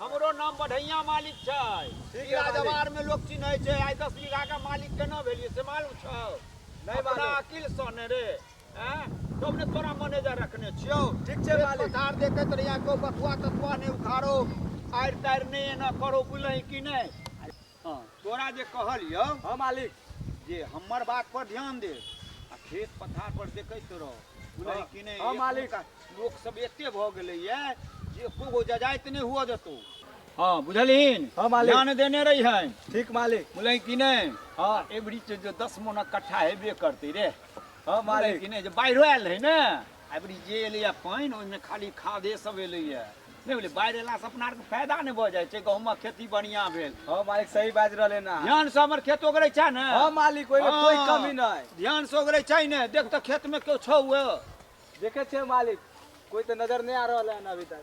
हमरो नाम बढ़ैया मालिक छै ठीक ई है मालिक। राजवार में लोग चिन्है छै आइ दस बीघा का मालिक केना भेलिए से मालूम छौ नहीं अपना मालूम। अकिल सँ ने रे हैं तब ने तोरा मैनेजर रखने छियौ ठीक छै खेत मालिक। पथार देखैत रहिया को बथुआ तथुआ ने उखाड़ो आड़ि ताड़ि ने एना करो बुझलही कि नहि हँ तोरा जे कहलियौ हँ मालिक जे हमर बात पर ध्यान दे आ खेत पथार पर देखैत रह बुझलही हँ। कि नहि हँ, मालिक। एखुनका लोक सब एते भऽ गेलैए जे एको गो जजाइत नहि हुअ देतौ हँ बुझलहीन हँ, मालिक। ध्यान देने रहिहन ठीक मालिक बुझलही कि नहि हँ एबरी जे दस मोनक कट्ठा हेबे करतै रे हँ बुझलही मालिक कि नहि जे बाढ़िओ आयल रहै ने अबरी जे एलैए पानि ओहिमे खाली खादे सब एलैए नहि भेलै बाढ़ि अयलासँ अपना आरके फायदा नहि भऽ जाइ छै गहूँमक खेती बढ़िआँ भेल हँ मालिक सही बाजि रहले ना ध्यानसँ हमर खेत ओगरै छै ने हँ मालिक ओहिमे कोई हँ। कमी नहि ध्यानसँ ओगरै छै ने देख तऽ खेतमे केओ छौ ओ देखे छियै मालिक कोई तो नजर नहीं आ रहा है अभी तक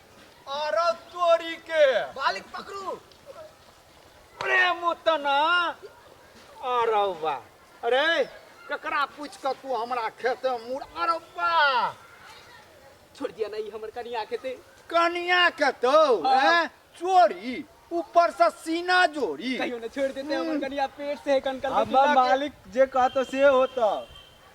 अरे तोरी के बालिक पकड़ू अरे मोतना अरे बा अरे ककरा पूछ के तू हमरा खेते मुड़ अरे बा छोड़ दिया नहीं हमर कनिया के ते कनिया के तो हाँ। हैं? चोरी ऊपर से सीना जोड़ी कहियो न छोड़ देते हमर कनिया पेट से कनकल के हमर पिला के- मालिक जे कहतो से होतो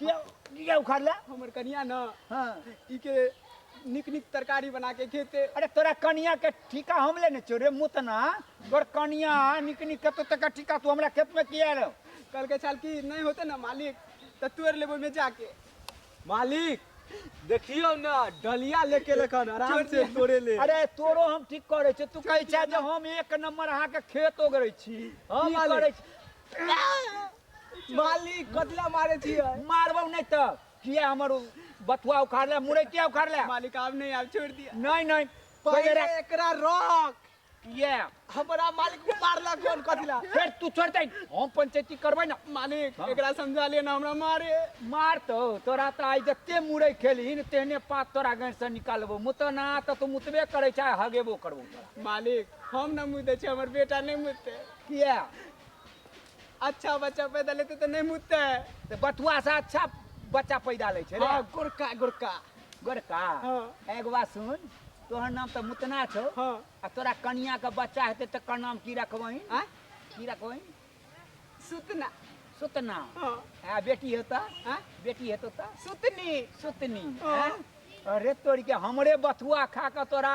किया किया उखाड़ला हमर कनिया न हाँ ई के निक निक तरकारी बना के खेते अरे तोरा कनिया के ठीका हम लेने छो रे मुतना तोर कनिया निक निक कतो तक ठीका तू हमरा खेत में किया रहो कल के छाल की नहीं होते ना मालिक तो तुअर लेबो में जाके मालिक देखियो ना डलिया लेके लखन आराम से तोड़े ले अरे तोरो हम ठीक करे छे तू कहै छे जे हम एक नंबर अहाँ के खेत ओगरै छी हम ई मालिक। करै छी मालिक कतला मारे छी मारबो नहीं तो किया हमर बथुआ उखाड़ ले मुरे किया उखाड़ ले मालिक आप नहीं आप छोड़ दिया नहीं नहीं पहले एकरा रोक किया हमरा मालिक मारला कौन कथला फिर तू छोड़ दे हम पंचायती करबे ना मालिक हाँ। एकरा समझा ले ना हमरा मारे मार तो तोरा त आई जते मुरे खेली न तेने पात तोरा गन से निकालबो मुत ना त तू मुतबे करे चाहे हगेबो करबो तोरा मालिक हम ना मुते छ हमर बेटा नहीं मुते किया अच्छा बच्चा पैदा लेते तो नहीं मुतते है तो बथुआ से अच्छा बच्चा पैदा ले छे रे हाँ, गोरका गोरका गोरका हाँ। एगो बात सुन तोहर नाम तो मुतना छो हाँ। आ तोरा कनिया के बच्चा हेते तो कर नाम की रखबही आ की रखबही सुतना सुतना हाँ। आ बेटी हेता आ बेटी हेतो तो सुतनी सुतनी हाँ। हैं? अरे तोरी के हमरे बथुआ खा के तोरा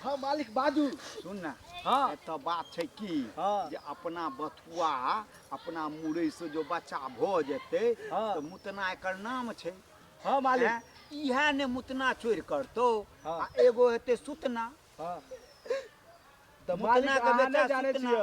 हँ मालिक बाजू सुन ने हँ एतऽ बात छै की हँ। जे अपना बथुआ अपना मुरई से जो बच्चा भऽ जेतै हँ। तऽ मुतना एकर नाम छै हँ हैं? मालिक इएह ने मुतना चोर करतौ हँ। आ एगो हेतै सुतना हँ तऽ मुतना मालिक के अहाँ बेटा नहि जानै सुतना। छियै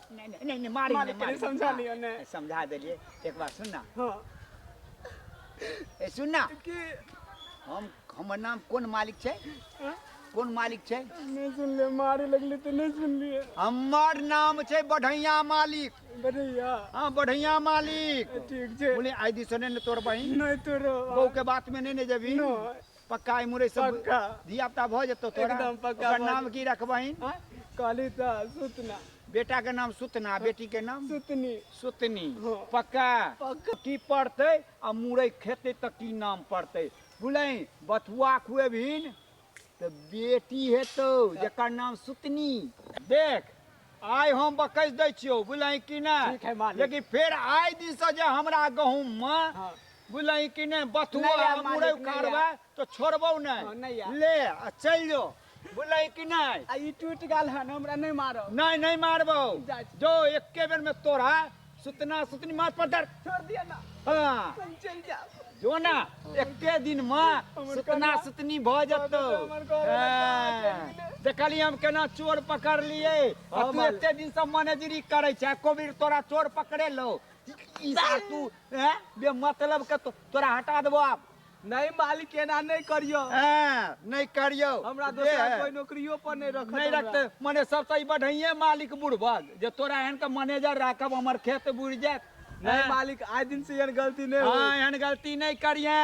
नहीं नहीं नहीं, नहीं मारी मालिक नहीं, मारी के समझा हाँ, लियो ने। समझा देलिए एक बार सुन ना हाँ ए सुन ना कि हम हमर नाम कोन मालिक छै हाँ? कोन मालिक छै नहीं सुन ले मारे लगले तो नहीं सुन लिए हमर नाम छै बढ़ैया मालिक बढ़िया हाँ बढ़ैया मालिक ठीक छे बोले आई दी सुने ने तोर बहिन नहीं तो रो बहू के बात में नहीं ने जबी नहीं पक्का ई मुरै सब पक्का। धिया पुता भऽ जेतौ तोरा एकदम पक्का ओकर भऽ नाम जेतौ। की रखबहिन आँय? कहली तऽ सुतना बेटा के नाम सुतना बेटी के नाम सुतनी सुतनी हँ। पक्का पक्का। की पड़तै आ मुरै खेतै तऽ की नाम पड़तै बुझलही बथुआ खुएबहिन तऽ बेटी हेतौ जकर नाम सुतनी देख आइ हम बकैस दै छियौ बुझलही कि नहि ठीक है, मालिक। लेकिन फेर आइ दिनसँ जे हमरा गहूँममे हँ। बुझलही कि नहि बथुआ नहि आयब, आ मुरइ मालिक, नहि उखाड़बै आयब। तऽ छोड़बौ हँ, नहि नहि आयब। ले आ चलि जो बुझलही कि नहि आ ई टूटि गेल हन हमरा नहि मारब नहि नहि मारबौ जाइ छी। जो एके बेरमे तोरा सुतना सुतनी माथ पर दर छोड़ दिया ना हाँ हम चल जाओ जो ना एके दिन में सुतना सुतनी भ जतो देखली हम केना चोर पकड़ लिए आ तू एते दिन से मैनेजरी करे छै कोबीर तोरा चोर पकड़े लो ई सार तू हैं बे मतलब के तो, तोरा हटा देबो आब नहि मालिक एना नहि करियौ हँ नहि करियौ हमरा जे दोसर है। कोई नौकरियो पर नहि रखत नहि हमरा। रखते मने सबसे ई बढ़िया मालिक बुढ़बक जे तोरा एहन के मैनेजर राखब हमर खेत बुढ़ि जायत नहि हँ। मालिक आइ दिन से एहन गलती नहि हँ होई एहन गलती नहि करिया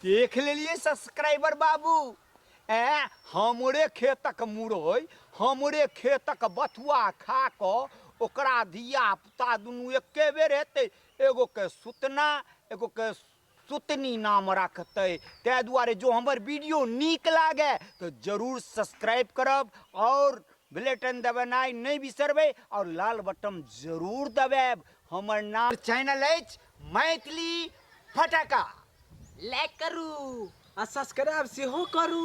देख लेलिए सब्सक्राइबर बाबू ए हमरे खेतक मुरई हमरे खेतक बथुआ खा कऽ ओकरा धिया पुता दुनू एके बेर हेतै एगो के सुतना एगो के सुतनी नाम राखतै ताहि दुआरे जो हमर वीडियो नीक लागे तऽ जरूर सब्सक्राइब करब आओर ब्लेटन दबेनाइ नहि बिसरबै आओर लाल बटन जरूर दबाएब हमर नाम चैनल अछि मैथिली फटाका लाइक करू आ सब्सक्राइब सेहो करू